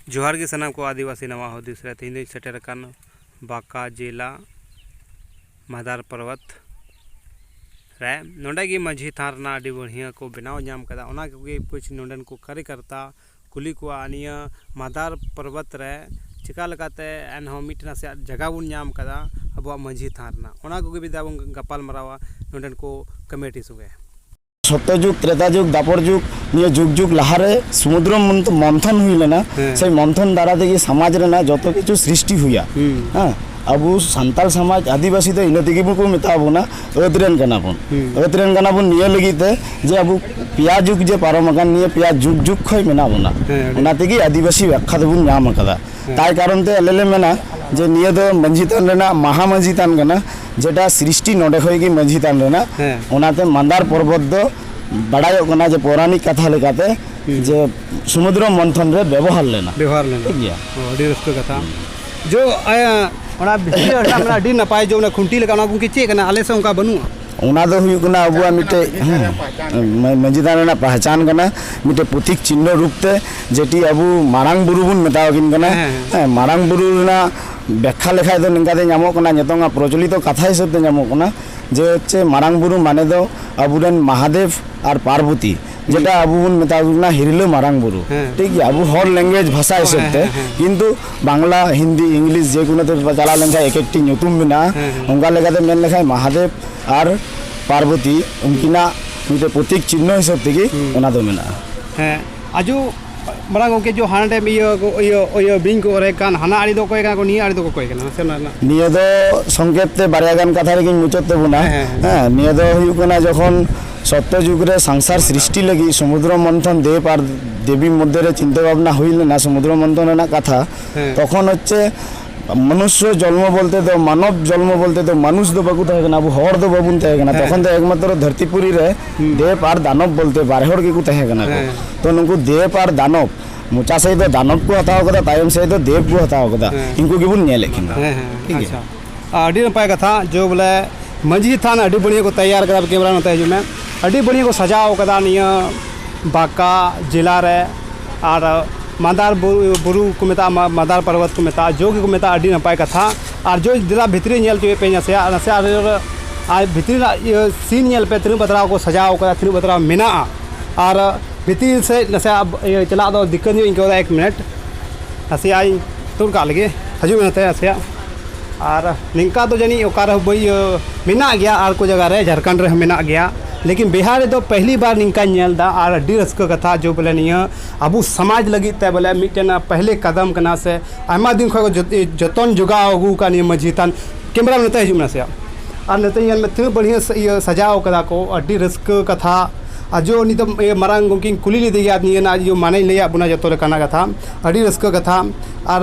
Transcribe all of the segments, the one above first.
ᱡᱚᱦᱟᱨ ᱜᱮ ᱥᱟᱱᱟᱢ ᱠᱚ ᱟᱹᱫᱤᱵᱟᱹᱥᱤ ᱱᱟᱣᱟ ᱦᱩᱫᱤᱥ ᱨᱮ ᱛᱮᱦᱮᱧ ᱫᱚᱧ ᱥᱮᱴᱮᱨ ᱟᱠᱟᱱ ᱵᱟᱸᱠᱟ ᱡᱮᱞᱟ ᱢᱟᱫᱟᱨ ᱯᱚᱨᱵᱚᱛ ᱨᱮ ᱱᱚᱰᱮ ᱜᱮ ᱢᱟᱹᱡᱷᱤ ᱛᱷᱟᱱ ᱨᱮᱱᱟᱜ ᱟᱹᱰᱤ ᱵᱟᱹᱲᱦᱤᱭᱟᱹ ᱠᱚ ᱵᱮᱱᱟᱣ ᱧᱟᱢ ᱠᱟᱫᱟ ᱚᱱᱟ ᱠᱚᱜᱮ ᱠᱩᱪ ᱱᱚᱰᱮᱱ ᱠᱚ ᱠᱟᱨᱤᱠᱟᱨᱛᱟ ᱠᱩᱞᱤ ᱠᱚᱣᱟ ᱱᱤᱭᱟᱹ ᱢᱟᱫᱟᱨ ᱯᱚᱨᱵᱚᱛ ᱨᱮ ᱪᱮᱠᱟ ᱞᱮᱠᱟᱛᱮ ᱮᱱᱦᱚᱸ ᱢᱤᱫᱴᱮᱱ ᱱᱟᱥᱮᱭᱟᱜ ᱡᱟᱭᱜᱟ ᱵᱚᱱ ᱧᱟᱢ ᱠᱟᱫᱟ ᱟᱵᱚᱣᱟᱜ ᱢᱟᱹᱡᱷᱤ ᱛᱷᱟᱱ ᱨᱮᱱᱟᱜ ᱚᱱᱟ ᱠᱚᱜᱮ ᱢᱤᱫ ᱫᱷᱟᱣ ᱵᱚᱱ ᱜᱟᱯᱟᱞᱢᱟᱨᱟᱣᱟ ᱱᱚᱰᱮᱱ ᱠᱚ ᱠᱚᱢᱤᱴᱤ ᱥᱚᱸᱜᱮ ᱥᱚᱛᱚᱡᱩᱜᱽ ᱛᱨᱮᱛᱟ ᱡᱩᱜᱽ ᱫᱟᱯᱚᱨ ᱡᱩᱜᱽ ᱱᱤᱭᱟᱹ ᱡᱩᱜᱽ ᱡᱩᱜᱽ ᱞᱟᱦᱟᱨᱮ ᱥᱩᱢᱩᱫᱨ ᱢᱚᱱᱛᱷᱚᱱ ᱦᱩᱭ ᱞᱮᱱᱟ ᱥᱮ ᱢᱚᱱᱛᱷᱚᱱ ᱫᱟᱨᱟ ᱛᱮᱜᱮ ᱥᱚᱢᱟᱡᱽ ᱨᱮᱱᱟᱜ ᱡᱚᱛᱚ ᱠᱤᱪᱷᱩ ᱥᱨᱤᱥᱴᱤ ᱦᱩᱭᱟ ᱦᱮᱸ ᱟᱵᱚ ᱥᱟᱱᱛᱟᱲ ᱥᱚᱢᱟᱡᱽ ᱟᱹᱫᱤᱵᱟᱹᱥᱤ ᱫᱚ ᱤᱱᱟᱹ ᱛᱮᱜᱮ ᱵᱚᱱ ᱢᱮᱛᱟ ᱵᱚᱱᱟ ᱟᱹᱫ ᱨᱮᱱ ᱠᱟᱱᱟ ᱵᱚᱱ ᱟᱹᱫ ᱨᱮᱱ ᱠᱟᱱᱟ ᱵᱚᱱ ᱱᱤᱭᱟᱹ ᱞᱟᱹᱜᱤᱫ ᱛᱮ ᱡᱮ ᱟᱵᱚ ᱯᱮᱭᱟ ᱡᱩᱜᱽ ᱡᱮ ᱯᱟᱨᱚᱢ ᱟᱠᱟᱱ ᱱᱤᱭᱟᱹ ᱯᱮᱭᱟ ᱡᱩᱜᱽ ᱡᱩᱜᱽ ᱠᱷᱚᱱ ᱢᱮᱱᱟᱜ ᱵᱚᱱᱟ ᱚᱱᱟ ᱛᱮᱜᱮ ᱟᱹᱫᱤᱵᱟᱹᱥᱤ ᱵᱮᱠᱠᱷᱟ ᱫᱚᱵᱚᱱ ᱧᱟᱢ ᱟᱠᱟᱫᱟ ᱛᱟᱭ ᱠᱟᱨᱚᱱ ᱛᱮ ᱟᱞᱮ ᱞᱮ ᱢᱮᱱᱟ ᱡᱮ ᱱᱤᱭᱟᱹ ᱫᱚ ᱢᱟᱹᱡᱷᱤ ᱛᱷᱟᱱ ᱨᱮᱱᱟᱜ ᱢᱟᱦᱟ ᱢᱟᱹᱡᱷᱤ ᱛᱷᱟᱱ ᱠᱟᱱᱟ ᱡᱮᱴᱟ ᱥᱨᱤᱥᱴᱤ ᱱᱚᱰᱮ ᱠᱷᱚᱱ ᱜᱮ ᱢᱟᱹᱡᱷᱤ ᱛᱷᱟᱱ ᱨᱮᱱᱟᱜ ᱚᱱᱟᱛᱮ ᱢᱟᱱᱫᱟᱨ ᱯᱚᱨᱵᱚᱛ ᱫᱚ ᱵᱟᱲᱟᱭᱚᱜ ᱠᱟᱱᱟ ᱡᱮ ᱯᱳᱨᱟᱱᱤᱠ ᱠᱟᱛᱷᱟ ᱞᱮᱠᱟᱛᱮ ᱡᱮ ᱥᱚᱢᱩᱫᱨᱚ ᱢᱚᱱᱛᱷᱚᱱ ᱨᱮ ᱵᱮᱵᱚᱦᱟᱨ ᱞᱮᱱᱟ ᱵᱮᱵᱚᱦᱟᱨ ᱞᱮᱱᱟ ᱴᱷᱤᱠ ᱜᱮᱭᱟ ᱟᱹᱰᱤ ᱨᱟᱹᱥᱠᱟᱹ ᱠᱟᱛᱷᱟ ᱡᱚ ᱚᱱᱟ ᱵᱷᱤᱛᱨᱤ ᱨᱮ ᱟᱹᱰᱤ ᱱᱟᱯᱟᱭ ᱡᱮ ᱚᱱᱟ ᱠᱷᱩᱱᱴᱤ ᱞᱮᱠᱟ ᱚᱱᱟ ᱜᱚᱢᱠᱮ ᱪᱮᱫ ᱠᱟᱱᱟ ᱟᱞᱮ ᱥᱮᱫ ᱚᱱᱠᱟ ᱵᱟᱹᱱᱩᱜᱼᱟ ᱚᱱᱟ ᱫᱚ ᱦᱩᱭᱩᱜ ᱠᱟᱱᱟ ᱟᱵᱚᱣᱟᱜ ᱢᱤᱫᱴᱮᱡ ᱢᱟᱹᱡᱷᱤ ᱛᱷᱟᱱ ᱨᱮᱱᱟᱜ ᱯᱟᱦᱪᱟᱱ ᱠᱟᱱᱟ ᱢᱤᱫᱴᱮᱡ ᱯᱨᱚᱛᱤᱠ ᱪᱤᱱᱦᱚ ᱨᱩᱯ ᱛᱮ ᱡᱮᱴᱤ ᱟᱵᱚ ᱢᱟᱨᱟᱝ ᱵᱩᱨᱩ ᱵᱚᱱ ᱢᱮᱛᱟ ᱟᱹᱠᱤᱱ ᱠᱟᱱᱟ ᱦᱮᱸ ᱢᱟᱨᱟᱝ ᱵᱩᱨᱩ ᱨᱮᱱᱟᱜ ᱵᱮᱠᱠᱷᱟ ᱞᱮᱠᱷᱟᱡ ᱫᱚ ᱱᱤᱝᱠᱟ ᱛᱮ ᱧᱟᱢᱚᱜ ᱠᱟᱱᱟ ᱱᱤᱛᱚᱝ ᱟᱜ ᱯᱨᱚᱪᱚᱞᱤᱛᱚ ᱠᱟᱛᱷᱟ ᱦᱤᱥᱟᱹᱵ ᱛᱮ ᱧᱟᱢᱚᱜ ᱠᱟᱱᱟ ᱡᱮ ᱦᱚᱪᱪᱷᱮ ᱢᱟᱨᱟᱝ ᱵᱩᱨᱩ ᱢᱟᱱᱮ ᱫᱚ ᱟᱵᱚ ᱨᱮᱱ ᱢᱟᱦᱟᱫᱮᱵ ᱟᱨ ᱯᱟᱨᱵᱚᱛᱤ ᱡᱮᱴᱟ ᱟᱵᱚ ᱵᱚᱱ ᱢᱮᱛᱟ ᱠᱚ ᱠᱟᱱᱟ ᱦᱤᱨᱞᱟᱹ ᱢᱟᱨᱟᱝ ᱵᱩᱨᱩ ᱦᱮᱸ᱾ ᱴᱷᱤᱠ ᱜᱮᱭᱟ ᱟᱵᱚ ᱦᱚᱲ ᱞᱮᱝᱜᱩᱭᱮᱡᱽ ᱵᱷᱟᱥᱟ ᱦᱤᱥᱟᱹᱵ ᱦᱮᱸ, ᱛᱮ ᱦᱮᱸ, ᱦᱮᱸ᱾ ᱠᱤᱱᱛᱩ ᱵᱟᱝᱞᱟ ᱦᱤᱱᱫᱤ ᱤᱝᱞᱤᱥ ᱡᱮ ᱠᱳᱱᱳ ᱛᱮ ᱪᱟᱞᱟᱣ ᱞᱮᱱᱠᱷᱟᱱ ᱮᱠ ᱮᱠᱴᱤ ᱧᱩᱛᱩᱢ ᱢᱮᱱᱟᱜᱼᱟ ᱦᱮᱸ, ᱦᱮᱸ᱾ ᱚᱱᱠᱟ ᱞᱮᱠᱟᱛᱮ ᱢᱮᱱ ᱞᱮᱠᱷᱟᱱ ᱢᱟᱦᱟᱫᱮᱵ ᱟᱨ ᱯᱟᱨᱵᱚᱛᱤ ᱩᱱᱠᱤᱱᱟᱜ ᱢᱤᱫᱴᱮᱱ ᱯᱨᱚᱛᱤᱠ ᱪᱤᱱᱦᱚ ᱦᱤᱥᱟᱹᱵ ᱛᱮᱜᱮ ᱚᱱᱟ ᱫᱚ ᱢᱮᱱᱟᱜᱼᱟ ᱦᱮᱸ ᱟᱡᱚ ᱢᱟᱨᱟᱝ ᱜᱚᱢᱠᱮ ᱡᱚ ᱦᱟᱱᱰᱮ ᱤᱭᱟᱹ ᱤᱭᱟᱹ ᱤᱭᱟᱹ ᱵᱤᱧ ᱠᱚ ᱚᱨᱮ ᱠᱟᱱ ᱦᱟᱱᱟ ᱟᱲᱮ ᱫᱚ ᱚᱠᱚᱭ ᱠᱟᱱᱟ ᱠᱚ ᱱᱤᱭᱟᱹ ᱟᱲᱮ ᱫᱚ ᱚᱠᱚᱭ ᱠᱟᱱᱟ ᱥᱮ ᱚᱱᱟ ᱨᱮᱱᱟᱜ ᱱᱤᱭᱟᱹ ᱫᱚ ᱥᱚᱝᱠᱮᱛ ᱛᱮ ᱵᱟᱨᱭᱟ ᱜᱟᱱ ᱠᱟᱛᱷᱟ ᱨᱮᱜᱮᱧ ᱢᱩᱪᱟᱹᱫ ᱛᱟᱵᱚᱱᱟ ᱦᱮᱸ ᱱᱤᱭᱟᱹ ᱫᱚ ᱦᱩᱭᱩᱜ ᱠᱟᱱᱟ ᱡᱚᱠᱷᱚᱱ ᱥᱚᱛᱛᱚ ᱡᱩᱜᱽ ᱨᱮ ᱥᱚᱝᱥᱟᱨ ᱥᱨᱤᱥᱴᱤ ᱞᱟᱹᱜᱤᱫ ᱥᱚᱢᱩᱫᱨᱚ ᱢᱚᱱᱛᱷᱚᱱ ᱫᱮᱵ ᱟᱨ ᱫᱮᱵᱤ ᱢᱚᱫᱽᱫᱷᱮ ᱨᱮ ᱪᱤᱱᱛᱟᱹ ᱵᱷᱟᱵᱽᱱᱟ ᱦᱩᱭ ᱞᱮᱱᱟ ᱥᱚᱢᱩᱫᱨᱚ ᱢᱚᱱᱛᱷᱚᱱ ᱨᱮᱱᱟᱜ ᱠᱟᱛᱷᱟ ᱛᱚᱠᱷᱚᱱ ᱦᱚᱪᱪᱷᱮ ᱢᱚᱱᱩᱥᱭᱚ ᱡᱚᱱᱢᱚ ᱵᱚᱞᱛᱮ ᱫᱚ ᱢᱟᱱᱚᱵ ᱡᱚᱱᱢᱚ ᱵᱚᱞᱛᱮ ᱫᱚ ᱢᱟᱱᱩᱥ ᱫᱚ ᱵᱟᱠᱚ ᱛᱟᱦᱮᱸ ᱠᱟᱱᱟ ᱟᱵᱚ ᱦᱚᱲ ᱫᱚ ᱵᱟᱵᱚᱱ ᱛᱟᱦᱮᱸ ᱠᱟᱱᱟ ᱛᱚᱠᱷᱚᱱ ᱫᱚ ᱮᱠᱢᱟᱛᱨᱚ ᱫᱷᱟᱹᱨᱛᱤ ᱯᱩᱨᱤ ᱨᱮ ᱫᱮᱵ ᱟᱨ ᱫᱟᱱᱚᱵ ᱵᱚᱞᱛᱮ ᱵᱟᱨ ᱦᱚᱲ ᱜᱮᱠᱚ ᱛᱟᱦᱮᱸ ᱠᱟᱱᱟ ᱠᱚ ᱛᱚ ᱱᱩᱠᱩ ᱫᱮᱵ ᱟᱨ ᱫᱟᱱᱚᱵ ᱢᱚᱪᱟ ᱥᱮᱫ ᱫᱚ ᱫᱟᱱᱚᱵ ᱠᱚ ᱦᱟᱛᱟᱣ ᱠᱟᱫᱟ ᱛᱟᱭᱚᱢ ᱥᱮᱫ ᱫᱚ ᱫᱮᱵ ᱠᱚ ᱦᱟᱛᱟᱣ ᱠᱟᱫᱟ ᱤᱱᱠᱩ ᱜᱮᱵᱚᱱ ᱧᱮᱞᱮᱫ ᱠᱤᱱᱟ ᱴᱷᱤᱠ ᱜᱮᱭᱟ ᱟᱹᱰᱤ ᱱᱟᱯᱟᱭ ᱠᱟᱛᱷᱟ ᱡᱮ ᱵᱚᱞᱮ ᱢᱟᱹᱡᱷᱤ ᱛᱷᱟᱱ ᱟᱹᱰᱤ ᱵᱟᱹᱲᱤᱡ ᱠᱚ ᱛᱮᱭᱟᱨ ᱠᱟᱫᱟ ᱠᱮᱢᱮᱨᱟ ᱱᱚᱛᱮ ᱦᱤᱡᱩᱜ ᱢᱮ ᱟᱹᱰᱤ ᱵᱟᱹᱲᱤᱡ ᱠᱚ ᱥᱟᱡᱟᱣ ᱠᱟᱫᱟ ᱱᱤᱭᱟᱹ ᱵᱟᱸᱠᱟ ᱡᱮᱞᱟ ᱨᱮ ᱟᱨ ᱢᱟᱫᱟᱨ ᱵᱩᱨᱩ ᱠᱚ ᱢᱮᱛᱟᱜᱼᱟ ᱢᱟᱫᱟᱨ ᱯᱚᱨᱵᱚᱛ ᱠᱚ ᱢᱮᱛᱟᱜᱼᱟ ᱡᱳ ᱜᱮᱠᱚ ᱢᱮᱛᱟᱜᱼᱟ ᱟᱹᱰᱤ ᱱᱟᱯᱟᱭ ᱠᱟᱛᱷᱟ ᱟᱨ ᱡᱳ ᱫᱮᱞᱟ ᱵᱷᱤᱛᱨᱤ ᱧᱮᱞ ᱦᱚᱪᱚᱭᱮᱫ ᱯᱮᱭᱟᱧ ᱱᱟᱥᱮᱭᱟᱜ ᱱᱟᱥᱮᱭᱟᱜ ᱟᱨ ᱵᱷᱤᱛᱨᱤ ᱨᱮᱱᱟᱜ ᱤᱭᱟᱹ ᱥᱤᱱ ᱧᱮᱞ ᱯᱮ ᱛᱤᱱᱟᱹᱜ ᱵᱟᱛᱨᱟᱣ ᱠᱚ ᱥᱟᱡᱟᱣ ᱠᱟᱫᱟ ᱛᱤᱱᱟᱹᱜ ᱵᱟᱛᱨᱟᱣ ᱢᱮᱱᱟᱜᱼᱟ ᱟᱨ ᱵᱷᱤᱛᱤᱨ ᱥᱮᱫ ᱱᱟᱥᱮᱭᱟᱜ ᱪᱟᱞᱟᱜ ᱫᱚ ᱫᱤᱠᱠᱟᱹᱛ ᱧᱚᱜ ᱤᱧ ᱟᱹᱭᱠᱟᱹᱣᱫᱟ ᱮᱠ ᱢᱤᱱᱤᱴ ᱱᱟᱥᱮᱭᱟᱜ ᱤᱧ ᱛᱩᱫ ᱠᱟᱜ ᱞᱮᱜᱮ ᱦᱤᱡᱩᱜ ᱢᱮ ᱱᱚᱛᱮ ᱱᱟᱥᱮᱭᱟᱜ ᱟᱨ ᱱᱤᱝᱠᱟ ᱫᱚ ᱡᱟᱹᱱᱤᱡ ᱚᱠᱟ ᱨᱮᱦᱚᱸ ᱵᱟᱹᱧ ᱢᱮᱱᱟᱜ ᱜᱮᱭᱟ ᱟᱨ ᱠᱚ ᱡᱟᱭᱜᱟ ᱨᱮ ᱡᱷᱟᱲᱠᱷᱚᱸᱰ ᱨᱮᱦᱚᱸ ᱢᱮᱱᱟᱜ ᱜᱮᱭᱟ ᱞᱮᱠᱤᱱ ᱵᱤᱦᱟᱨ ᱨᱮᱫᱚ ᱯᱮᱦᱞᱤ ᱵᱟᱨ ᱱᱤᱝᱠᱟᱧ ᱧᱮᱞ ᱮᱫᱟ ᱟᱨ ᱟᱹᱰᱤ ᱨᱟᱹᱥᱠᱟᱹ ᱠᱟᱛᱷᱟ ᱡᱮ ᱵᱚᱞᱮ ᱱᱤᱭᱟᱹ ᱟᱵᱚ ᱥᱚᱢᱟᱡᱽ ᱞᱟᱹᱜᱤᱫ ᱛᱮ ᱵᱚᱞᱮ ᱢᱤᱫᱴᱮᱱ ᱯᱮᱦᱞᱮ ᱠᱟᱫᱚᱢ ᱠᱟᱱᱟ ᱥᱮ ᱟᱭᱢᱟ ᱫᱤᱱ ᱠᱷᱚᱱ ᱡᱚᱛᱚᱱ ᱡᱚᱜᱟᱣ ᱟᱹᱜᱩ ᱟᱠᱟᱫ ᱱᱤᱭᱟᱹ ᱢᱟᱹᱡᱷᱤ ᱛᱷᱟᱱ ᱠᱮᱢᱮᱨᱟ ᱢᱮᱱ ᱱᱚᱛᱮ ᱦᱤᱡᱩᱜ ᱢᱮ ᱱᱟᱥᱮᱭᱟᱜ ᱟᱨ ᱱᱚᱛᱮ ᱧᱮᱞ ᱢᱮ ᱛᱤᱱᱟᱹᱜ ᱵᱟᱹᱲᱤᱡ ᱤᱭᱟᱹ ᱥᱟᱡᱟᱣ ᱠᱟᱫᱟ ᱠᱚ ᱟᱹᱰᱤ ᱨᱟᱹᱥᱠᱟᱹ ᱠᱟᱛᱷᱟ ᱟᱨ ᱡᱮ ᱩᱱᱤ ᱫᱚ ᱢᱟᱨᱟᱝ ᱜᱚᱢᱠᱮᱧ ᱠᱩᱞᱤ ᱞᱮᱫᱮᱭᱟ ᱱᱤᱭᱟᱹ ᱨᱮᱱᱟᱜ ᱢᱟᱱᱮᱭ ᱞᱟᱹᱭᱟᱫ ᱵᱚᱱᱟ ᱡᱚᱛᱚ ᱞᱮᱠᱟᱱᱟᱜ ᱠᱟᱛᱷᱟ ᱟᱹᱰᱤ ᱨᱟᱹᱥᱠᱟᱹ ᱠᱟᱛᱷᱟ ᱟᱨ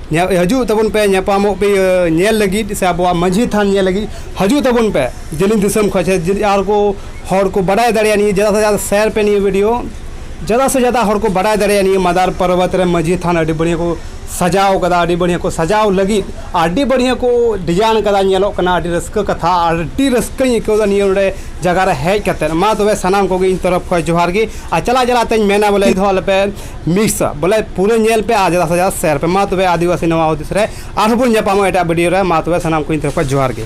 ᱦᱤᱡᱩᱜ ᱛᱟᱵᱚᱱ ᱯᱮ ᱧᱟᱯᱟᱢᱚᱜ ᱯᱮ ᱤᱭᱟᱹ ᱧᱮᱞ ᱞᱟᱹᱜᱤᱫ ᱥᱮ ᱟᱵᱚᱣᱟᱜ ᱢᱟᱹᱡᱷᱤ ᱛᱷᱟᱱ ᱧᱮᱞ ᱞᱟᱹᱜᱤᱫ ᱦᱤᱡᱩᱜ ᱛᱟᱵᱚᱱ ᱯᱮ ᱡᱮᱞᱮᱧ ᱫᱤᱥᱚᱢ ᱠᱷᱚᱱ ᱥᱮ ᱡᱩᱫᱤ ᱟᱨ ᱠᱚ ᱦᱚᱲ ᱠᱚ ᱵᱟᱰᱟᱭ ᱫᱟᱲᱮᱭᱟᱜᱼᱟ ᱱᱤᱭᱟᱹ ᱡᱟᱫᱟ ᱥᱮ ᱡᱟᱫᱟ ᱥᱮᱭᱟᱨ ᱯᱮ ᱱᱤᱭᱟᱹ ᱵᱷᱤᱰᱤᱭᱳ ᱡᱟᱫᱟ ᱥᱮ ᱡᱟᱫᱟ ᱦᱚᱲ ᱠᱚ ᱵᱟᱰᱟᱭ ᱫᱟᱲᱮᱭᱟᱜᱼᱟ ᱱᱤᱭᱟᱹ ᱢᱟᱫᱟᱨ ᱯᱚᱨᱵᱚᱛ ᱨᱮ ᱢᱟᱹᱡᱷᱤ ᱛᱷᱟᱱ ᱟᱹᱰᱤ ᱵᱟᱹᱲᱤᱭᱟᱹ ᱠᱚ ᱥᱟᱡᱟᱣ ᱠᱟᱫᱟ ᱟᱹᱰᱤ ᱵᱟᱹᱲᱤᱭᱟᱹ ᱠᱚ ᱥᱟᱡᱟᱣ ᱞᱟᱹᱜᱤᱫ ᱟᱹᱰᱤ ᱵᱟᱹᱲᱤᱭᱟᱹ ᱠᱚ ᱰᱤᱡᱟᱭᱤᱱ ᱠᱟᱫᱟ ᱧᱮᱞᱚᱜ ᱠᱟᱱᱟ ᱟᱹᱰᱤ ᱨᱟᱹᱥᱠᱟᱹ ᱠᱟᱛᱷᱟ ᱟᱹᱰᱤ ᱨᱟᱹᱥᱠᱟᱹᱧ ᱟᱹᱭᱠᱟᱹᱣᱫᱟ ᱱᱤᱭᱟᱹ ᱱᱚᱰᱮ ᱡᱟᱭᱜᱟ ᱨᱮ ᱦᱮᱡ ᱠᱟᱛᱮᱫ ᱢᱟ ᱛᱚᱵᱮ ᱥᱟᱱᱟᱢ ᱠᱚᱜᱮ ᱤᱧ ᱛᱚᱨᱚᱯᱷ ᱠᱷᱚᱱ ᱡᱚᱦᱟᱨ ᱜᱮ ᱟᱨ ᱪᱟᱞᱟᱜ ᱪᱟᱞᱟᱜ ᱛᱤᱧ ᱢᱮᱱᱟ ᱵᱚᱞᱮ ᱢᱤᱫ ᱫᱷᱟᱣ ᱟᱞᱚᱯᱮ ᱢᱤᱥᱟ ᱵᱚᱞᱮ ᱯᱩᱨᱟᱹ ᱧᱮᱞ ᱯᱮ ᱟᱨ ᱡᱟᱫᱟ ᱥᱮ ᱡᱟᱫᱟ ᱥᱮᱭᱟᱨ ᱯᱮ ᱢᱟ ᱛᱚᱵᱮ ᱟᱹᱫᱤᱵᱟᱹᱥᱤ ᱱᱚᱣᱟ ᱦᱩᱫᱤᱥ ᱨᱮ ᱟᱨᱦᱚᱸ ᱵᱚᱱ ᱧᱟᱯᱟᱢᱚᱜᱼᱟ ᱮᱴᱟᱜ ᱵᱷᱤᱰᱤᱭᱳ ᱨᱮ ᱢᱟ ᱛᱚᱵᱮ ᱥᱟᱱᱟᱢ ᱠᱚ ᱤᱧ ᱛᱚᱨᱚᱯ ᱠᱷᱚᱱ ᱡᱚᱦᱟᱨ ᱜᱮ